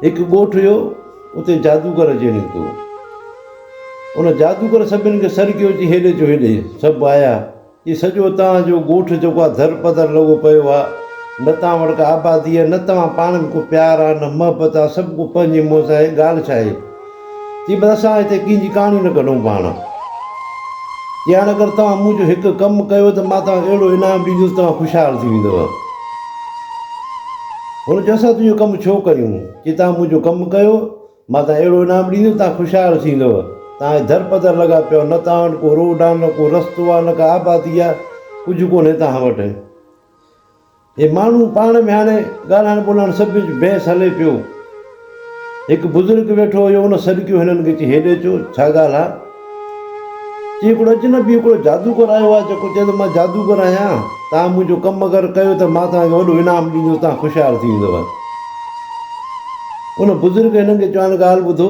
هڪ ڳوٺ هيو، اتي جادوگر اچي نڪتو. ان جادوگر سڀني کي سڏ ڪيو چي هيڏي اچو هيڏي. سڀ آيا. چي سڄو اتان جو ڳوٺ جيڪو آ در پدر لڳو پيو آ. نه توهان وٽ ڪا آبادي آ نه توهان پاڻ ۾ ڪو پيار آ نه محبت آ سڀ ڪو پنهنجي منهن سان آهي ڳالهه ڇا آهي. چي بس اسان هتي ڪنهن جي ڪهاڻي نه ڪڍون پاڻ. چي هاڻ اگر توهان مون جو هڪ ڪم ڪيو ته مان توهان کي اهڙو انعام ڏيندس توهان خوشحال ٿي ويندؤ. هن چيو اسان تنهنجو ڪم ڇو ڪيون؟ چي توهان مون جو ڪم ڪيو مان توهان کي اهڙو انعام ڏيندس توهان خوشحال ٿيندؤ. توهان هي در پدر لڳا پيا آهيو نه توهان وٽ ڪو روڊ آهي نه ڪو رستو آهي نه ڪا آبادي آهي ڪجهه ڪونهي توهان وٽ. هي ماڻهو پاڻ ۾ هاڻي ڳالهائڻ ٻولهائڻ سڀ وچ بحث هلي پيو. هڪ بزرگ ويٺو هيو ان سڏڪيو هنن کي چي هيڏي اچو ڇا ڳالهه آ؟ چي هڪڙو اجنبي هڪڙو جادوگر آيو آ جيڪو چئي ٿو مان جادوگر آهيان توهان منهنجو ڪم اگر ڪيو ته مان توهان کي وڏو انعام ڏيندس توهان خوشحال ٿي ويندؤ. ان بزرگ هنن کي چيو هاڻي ڳالهه ٻڌو.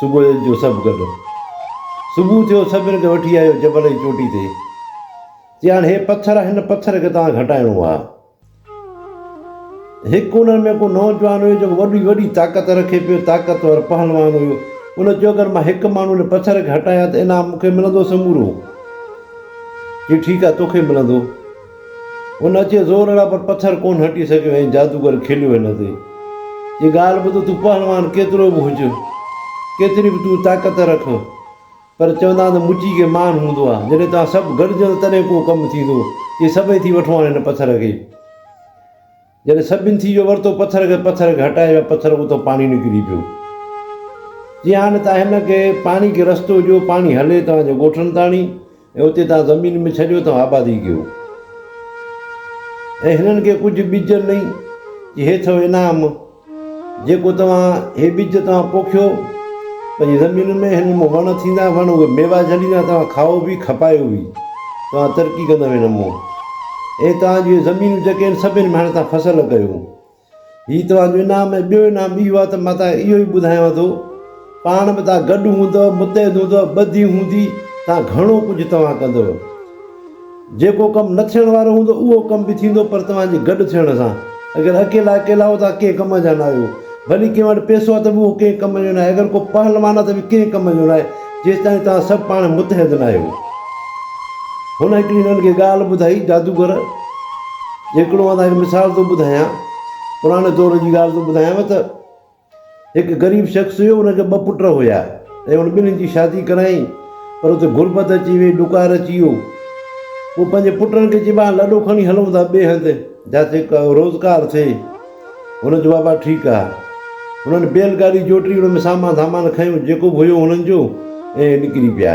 صبح جو سڀ گڏ صبح ٿيو سڀن کي وٺي آيو جبل جي چوٽي تي چيائين هي پٿر هن پٿر کي توهان گهٽائڻو آ هڪ انهن ۾ ڪو نوجوان هيو جيڪو وڏي وڏي طاقت رکي پيو طاقتور پهلوان هيو ان چيو اگر مان هڪ ماڻهو هن پٿر کي هٽايان ته انعام مون کي ملندو سمورو چيو ٺيڪ آ توکي ملندو هن اچي زور هڻيا پر پٿر ڪونه هٽي سگهيو ۽ جادوگر کليو هن تي چي ڳالهه ٻڌ تون پهلوان ڪيترو به هج، ڪيتري به تون طاقت رک پر چوندا آهن ته مٽي کي مان هوندو آهي، جڏهن توهان سڀ گڏجندا تڏهن ڪو ڪم ٿيندو، چي سڀئي ٿي وٺو هاڻ هن پٿر کي. جڏهن سڀني ٿي ويو ورتو پٿر کي پٿر کي هٽايو يا پٿر اتان پاڻي نڪري پيو جي هاڻي تان هن کي پاڻي کي رستو ڏيو پاڻي هلي توهان جي ڳوٺن تاڻي ۽ اتي توهان زمين ۾ ڇڏيو توهان آبادي ڪيو ۽ هنن کي ڪجهه ٻج نئي جي هي اٿو انعام جيڪو توهان هي ٻج توهان پوکيو پنهنجي زمين ۾ هن مون وڻ ٿيندا وڻ اهي ميوا جهليندا توهان کائو به کپايو به توهان ترقي ڪندا هن مون اهي توهان جون زمينون جيڪي آهن سڀن ۾ هاڻي توهان فصل ڪيو هي توهان جو انعام ۽ ٻيو انعام اهو آهي ته مان توهان اهو ئي ٻڌايان ٿو پاڻ به توهان گڏ هوندو متحد هوندو ٻڌي هوندي توهان گهڻو ڪجهه توهان ڪندو جيڪو ڪم نه ٿيڻ وارو هوندو اهو ڪم به ٿيندو پر توهان جي گڏ ٿيڻ سان. اگر اڪيلا اڪيلا آهيو ته اوهان ڪنهن ڪم جا ناهيو. ڀلي ڪنهن وٽ پئسو آهي ته به اهو ڪنهن ڪم جو ناهي. اگر ڪو پهلوان آهي ته به ڪنهن ڪم جو ناهي جيستائين توهان سڀ پاڻ متحد ناهيو. هن هڪڙي هنن کي ڳالهه ٻڌائي جادوگر جي هڪڙو مان توهان کي مثال ٿو ٻڌايان پراڻي دور جي ڳالهه ٿو ٻڌايانو ته هڪ غريب شخص هيو، ان کي ٻه پٽ هيا ۽ هن ٻنهي جي شادي ڪرايائين، پر اتي غربت اچي ويئي، ڏڪار اچي ويو. هو پنهنجي پٽن کي چيو آهن لڏو کڻي هلون ٿا ٻئي هنڌ، جاتي روزگار ٿئي. هن چيو بابا ٺيڪ آهي. هنن بيل گاڏي جوٽي ان ۾ سامان ڌامان کنيو جيڪو به هيو هنن جو ۽ نڪري پيا.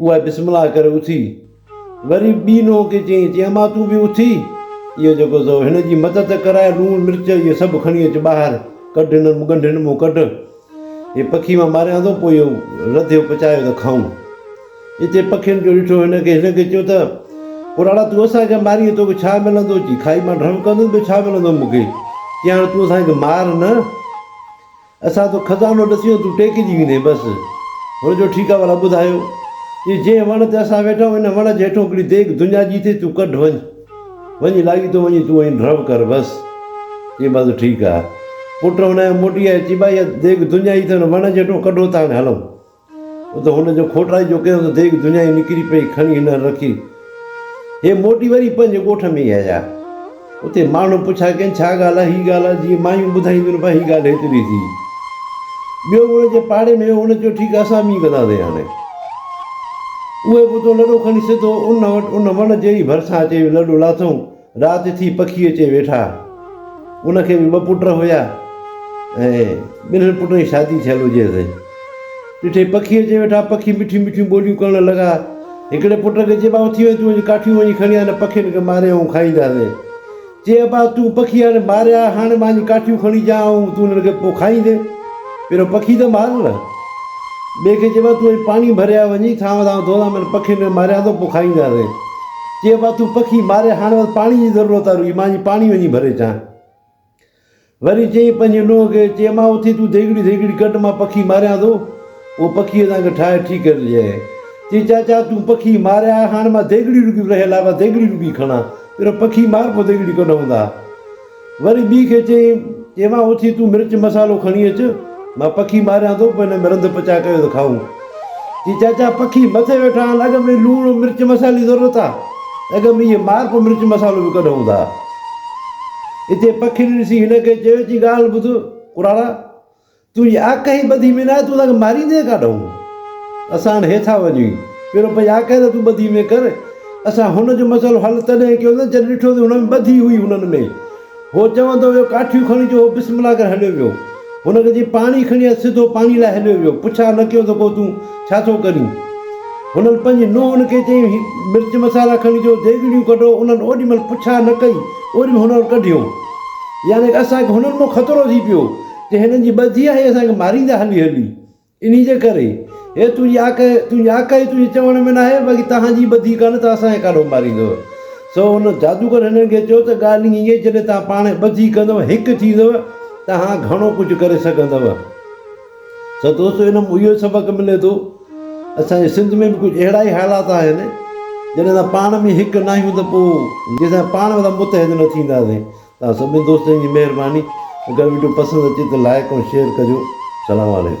اها بسم الله ڪري اٿي وري ٻي نونهن کي چيائين تي امان تون به اٿي اهو جيڪو اٿو هن جي مدد ڪر ۽ لوڻ مرچ اهي سڀ کڻي اچ ٻاهر ڪڍ هنن ڳنڍين مون ڪڍ هي پکي مان ماريان ٿو پوء اهو رڌيو پچايو ته کائون اتي پکين جو ڏٺو هن کي هن کي چيو ته پراڙا تون اسان کي ماري توکي ڇا ملندو چي کائي مان ڍرو ڪندس ٻيو ڇا ملندو مون کي چي هاڻي تون اسان کي مار نه اسان تو خزانو ڏسيون تون ٽيڪجي ويندين بس. هن چيو ٺيڪ آ ولا ٻڌايو جي جنهن وڻ تي اسان ويٺا آهيون ان وڻ جي هيٺون هڪڙي ديڳ دنيا جي اٿئي تون ڪڍ وڃ وڃي لاڳيتو وڃي تون ائين ڍرو ڪر بس. چيائين بس ٺيڪ آ. پٽ هن موٽي آيو چي ڀائي اها ديڳ دنيا جي اٿئي هن وڻ جي هيٺون ڪڍو ته هاڻي هلون. ته هن جو کوٽائي جو ڪيو ته ديڳ دنيائي نڪري پئي، کڻي هنر رکي، هي موٽي وري پنهنجي ڳوٺ ۾ ئي آيا. اتي ماڻهن پڇا ڪين، ڇا ڳالهه آ، هي ڳالهه آ، جيئن مايون ٻڌائينديون پئي، هي ڳالهه هيتري ٿي. ٻيو به ان جي پاڙي ۾ هو، هن چيو، ٺيڪ آ، اسان به ائين ڪنداسين هاڻي. اهي به اتو لڏو کڻي سڌو ان وٽ، ان وڻ جي ئي ڀرسان اچي لڏو لاٿئون، رات ٿي پکي اچي ويٺا. ان کي به ٻه پٽ هيا ۽ ٻنهن پٽن جي شادي ٿيل هجيس. ڏٺي پکي اچي ويٺا. پکي مٺيون مٺيون ٻوليون ڪرڻ لڳا. هڪڙي پٽ کي چيبا اٿي وڃ تون اڄ ڪاٺيون وڃي کڻي آ نه پکين کي ماري آئون کائينداسين. چي ابا تون پکي هاڻي ماريا هاڻي مان اڃ ڪاٺيون کڻي اچان آئون تون انهن کي پوء کائيندين. پهريون پکي ته مار نه. ٻئي کي چيبا تون اڄ پاڻي ڀري آ وڃي ٿانو ٿانو ڌو آ من پکين کي ماريان ٿو پوء کائينداسين. چيو مان تون پکي ماري هاڻ بس پاڻي جي ضرورت آ روئي مان جي پاڻي وڃي ڀري اچان وري چيئين پنهنجي نونهن کي چي مان اٿي تون ديڳڙي ڌيڳڙي ڪڍ مان پکي ماريان ٿو اهو پکي اسان کي ٺاهي ٺي ڪري ڏي چي چاچا تون پکي ماريا هاڻ مان ديڳڙي روپي رهيل آ مان ديڳڙي روپي کڻان پهريون پکي مار پو ديڳڙي ڪڍون ٿا وري ٻي کي چيائين، ايوان اٿي تون مرچ مصالحو کڻي اچ، مان پکي ماريان ٿو، پوء هن ۾ رنڌ پچاء ڪيو ته کائون. چي چاچا پکي مٿي ويٺا آهن، اڳ ۾ لوڻ ۽ مرچ مصالحي جي ضرورت آهي، اڳ ۾ اهي مار پوء مرچ مصالحو به ڪڏهن هوندا. اتي پکين ڏسي هن کي چيو، چي ڳالهه ٻڌ ڪراڙا! تنهنجي آقا ئي ٻڌي ۾ ناهي، تون اسان کي ماريندين ڪاڏانهن؟ اسان هاڻي هيٺان وڃون ئي پيرو پئي آقا ئي ته تون ٻڌي ۾ ڪر. اسان هن جو مسئلو حل تڏهن ڪيوسين جڏهن ڏٺوسين هن ۾ ٻڌي هئي هنن ۾ هو چوندو ويو ڪاٺيون کڻي جو هو بسم الله ڪري هليو ويو هن کي جي پاڻي کڻي آيو سڌو پاڻي لاء هليو ويو پڇا نه ڪيوسين ڪو تون ڇا ٿو ڪرين هنن پنهنجي نونهن کي چيائين هي مرچ مسالا کڻي جو ديڳڙيون ڪڍو انهن اوڏي مهل پڇا نه ڪئي اوڏي مهل هنن ڪڍيو يعني اسان کي هنن مون خطرو ٿي پيو ته هنن جي ٻڌي آهي اسان کي ماريندا هلي هلي انهي جي ڪري هي تنهنجي آڪ تنهنجي آڪ آهي تنهنجي چوڻ ۾ ناهي باقي توهان جي ٻڌي ڪانه ته اسان کي ڪاڏو ماريندو سو هن جادوگر هنن کي چيو ته ڳالهه ائين آهي جڏهن توهان پاڻ ٻڌي ڪندو هڪ ٿيندو توهان گهڻو ڪجهه ڪري سگهندو ته دوستو هن مان اهو سبق ملي ٿو اسان جي سنڌ ۾ به ڪجهه اهڙا ئي حالات آهن جڏهن اسان پاڻ ۾ هڪ ناهيون ته پوء جيسين پاڻ ۾ متحد نه ٿينداسين توهان سڀني دوستن جي مهرباني اگر وڊيو پسند اچي ته لائڪ ۽ شيئر ڪجو سلام عليڪم.